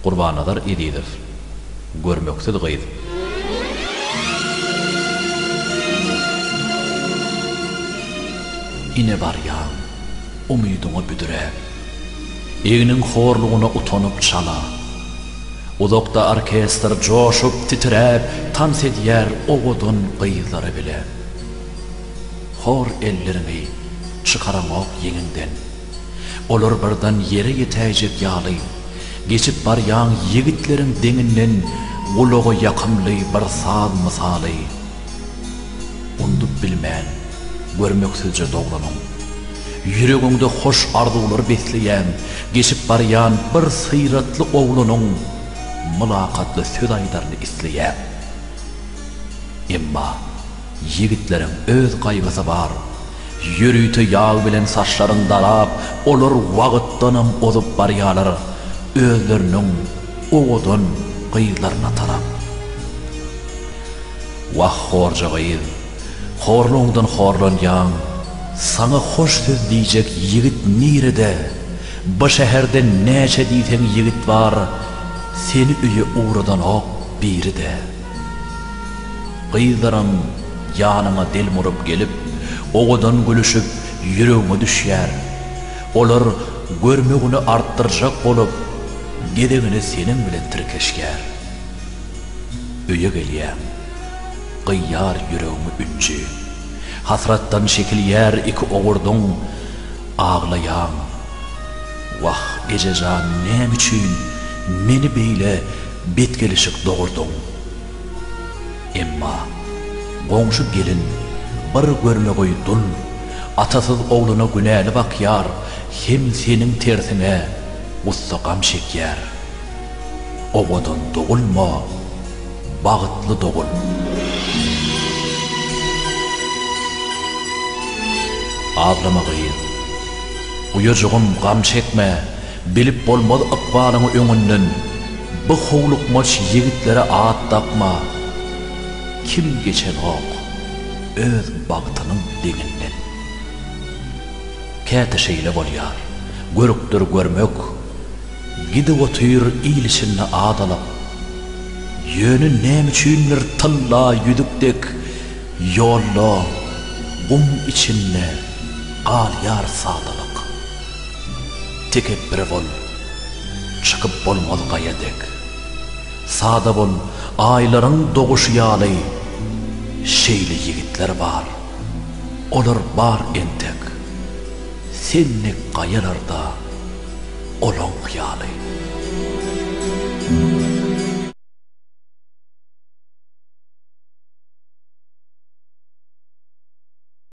Gurbannazar Ezizow, Görmeksiz gyz. Ine barýaň, umydyňy büdräp. Egniň horlugyna utanyp çala. Uzakda orkestr joşup, titräp, tans edýär owadan gyzlary bile. Hor elleriňi çykaraňok ýeňiňden. Olar birden ýere ýetäýjek ýaly, geçip barýan ýigitleriň deňinden gulaga ýakymly bir saz mysaly, Undup bilmen, görmeksizje dogranyň. Ýüregiňde hoş arzuwlar besleýän, geçip barýan bir syratly oglanyň mylakatly söz aýdaryny isleýäň. Emma. Ýigitleriň öz gaýgysy bar. Ýörite ýag bilen saçlaryň darap, olar wagtdanam ozup barýarlar, özleriniň owadan gyzlaryna tarap. Wah, horja gyz, horlugyňdan horlanýaň. Saňa hoş söz diýjek ýigit nirede? Bu şäherde näçe diýseň ýigit bar, seni öýe ugradanok biri-de. Gyzlaram ýanyňa delmuryp gelip, owadan gülüşip, ýüregiňe düşýär. Olar görmegini artdyrjak bolup, gezegine seniň bilen tirkeşýär. Öýe gelýäň. Gyýar ýüregiňi ünji. Hasratdan şekilýär iki owurdyň. Aglaýaň. Wah, Ejejan, näme üçin meni beýle Bet gelişik dogurdyň. Emma goňşy gelin bir görme goý dul atasyz ogluna günäli bakýar hem seniň tersiňe gussa gam çekýär. Owadan dogulma bagytly dogul. Aglama gyz. Uýajygym gam çekme. Bilip bolmaz ykbalyňy öňünden, Bu howlukmaç ýigitlere at dakma. Kim geçenok öz bagtynyň deňinden. Käte şeýle bolýar, görüpdir görmek, Gidip otyr il içinde adalap. Ýöne näme üçindir tylla ýüzük dek Ýolda, gum içinde galýar sadalyk. Tekepbir bol, çykyp bolmaz gaýa dek. Sada bol, aýlaryň doguşy ýaly. Şeýle ýigitler bar, olar bar entek. Sen dek gaýalarda olaň hyýaly.